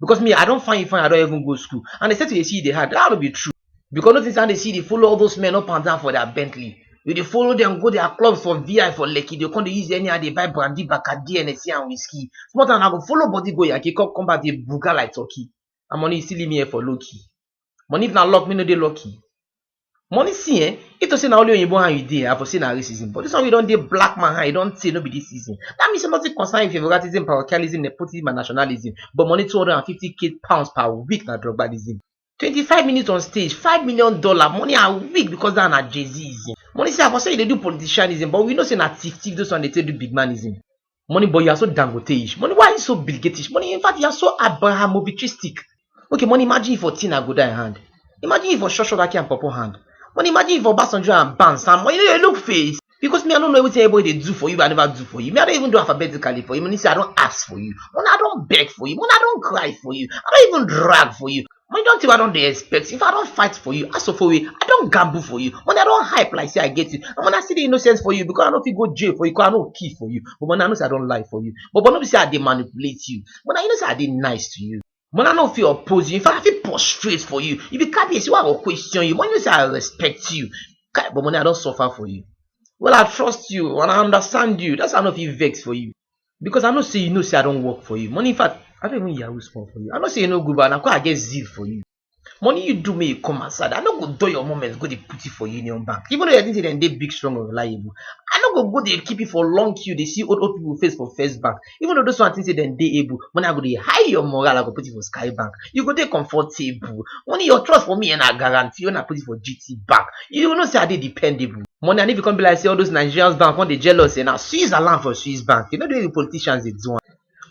because me I don find you fine I don even go school and they say to dey see you dey hard that no be true because no think say I dey see you dey follow all those men up and down for their Bentley you dey follow them go their clubs for VI for Lekki dey come dey use anyhow dey buy brandy Bacardi Hennessy and whiskey small time I go follow body go Yankee come come back dey buga like turkey and money you still leave me here for low key money if na luck me no dey lucky. Money see eh, if to say na only oyinbo hand you dey, I for say na racism but dis one wey you don dey black man hand, e don tey no be dis season. Dat mean say nothing concern you with favouritism, parochialism, nepotism and nationalism but money two hundred and fifty k pounds per week na drugbalism. Twenty five minutes on stage, five million dollar, money a week because dat one na jayzism. Money see I for say you dey do politicianism but we know say na thief thief those one dey take do bigmanism. Money boy, you are so dangote-ish. Money, why are you so Bill Gates-ish? Money, in fact, you are so Abrahamovichistic. Okay, money, imagine if for Tina go die hand. Imagine if for Shosho Raki and Popo hand. Money, imagine if for Obasanjo and Ban Sam. Money, you look face. Because me, I don't know everything everybody dey do for you, I never do for you. Me, I don't even do alphabetically for you. Money, say I don't ask for you. Money, I don't beg for you. Money, I don't cry for you. I don't even drag for you. Money don tey wey I don dey expect you, if I don fight for you ask of for you, I don gamble for you, money I don hype like sey I get you, Omo na still dey innocent for you because I no fit go jail for you because I no kill for you, Omo na you know sey I don lie for you, Omo no be sey I dey manipulate you, Omo na you know sey I dey nice to you, Omo I no fit oppose you, in fact I fit prostrate for you, you be kabiyesi wey I go question you, Omo you know sey I respect you, kai Omo na I don suffer for you, well I trust you and I understand you dats why I no fit vex for you. because I know say you know say I don work for you. Money in fact, I don't even yahoo small for you. I know say you no good, but na quite I get zeal for you. Money you do make you come outside. I no go do your moments go dey put it for Union Bank. Even though you think say dem dey big, strong and reliable. I no go go dey keep it for long queue dey see old old people face for first bank. Even though those one think say dem dey able, money I go dey high your morale, I go put it for sky bank. you go dey comfortable. Money your trust for me na guarantee when I put it for GT bank. You know say I dey dependable. Money and if e come be like say all those Nigerians bank come dey jealous say na Switzerland for Swiss bank. You know the way the politicians dey do am.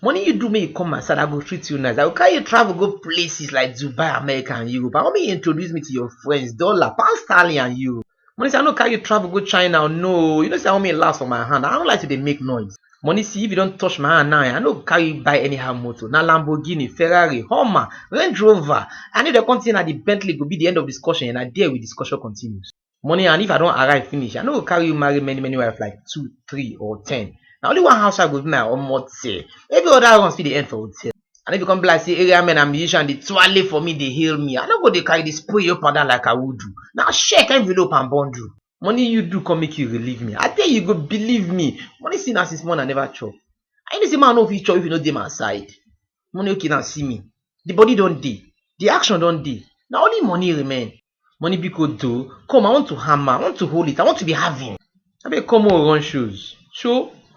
Money you do make you come my side, I go treat you nice. I go carry you travel go places like Dubai, America and Europe. I wan make you introduce me to your friends, dollar, pound sterling and euro. Money say I no carry you travel go China o, no o, you know say I wan make you last for my hand, I no like to dey make noise. Money see if you don touch my hand now eh, I no go carry you buy anyhow motor, na Lamborghini, Ferrari, Hummer, Range Rover, and if dem come say na the Bentley go be the end of discussion eh, na there we discussion continues. Money and if I don arrive finish, I no go carry you marry many many wife like two, three or ten, na only one house wife go be my omote, every other runs fit dey end for hotel. And if e come be like say area men and musicians dey twale for me, dey hail me, I no go dey carry the spray up and down like Awudu. Na check, envelope and bundle. Money you do come make you relieve me. I tell you, you go believe me. Money see na since morning I never chop. And you know say man no fit chop if you no dey my side. Money okay now see me. The body don dey. The action don dey. Na only money remain. Money biko do, come I want to hammer, I want to hold it, I want to be having. Abeg come make we run shows. Sho!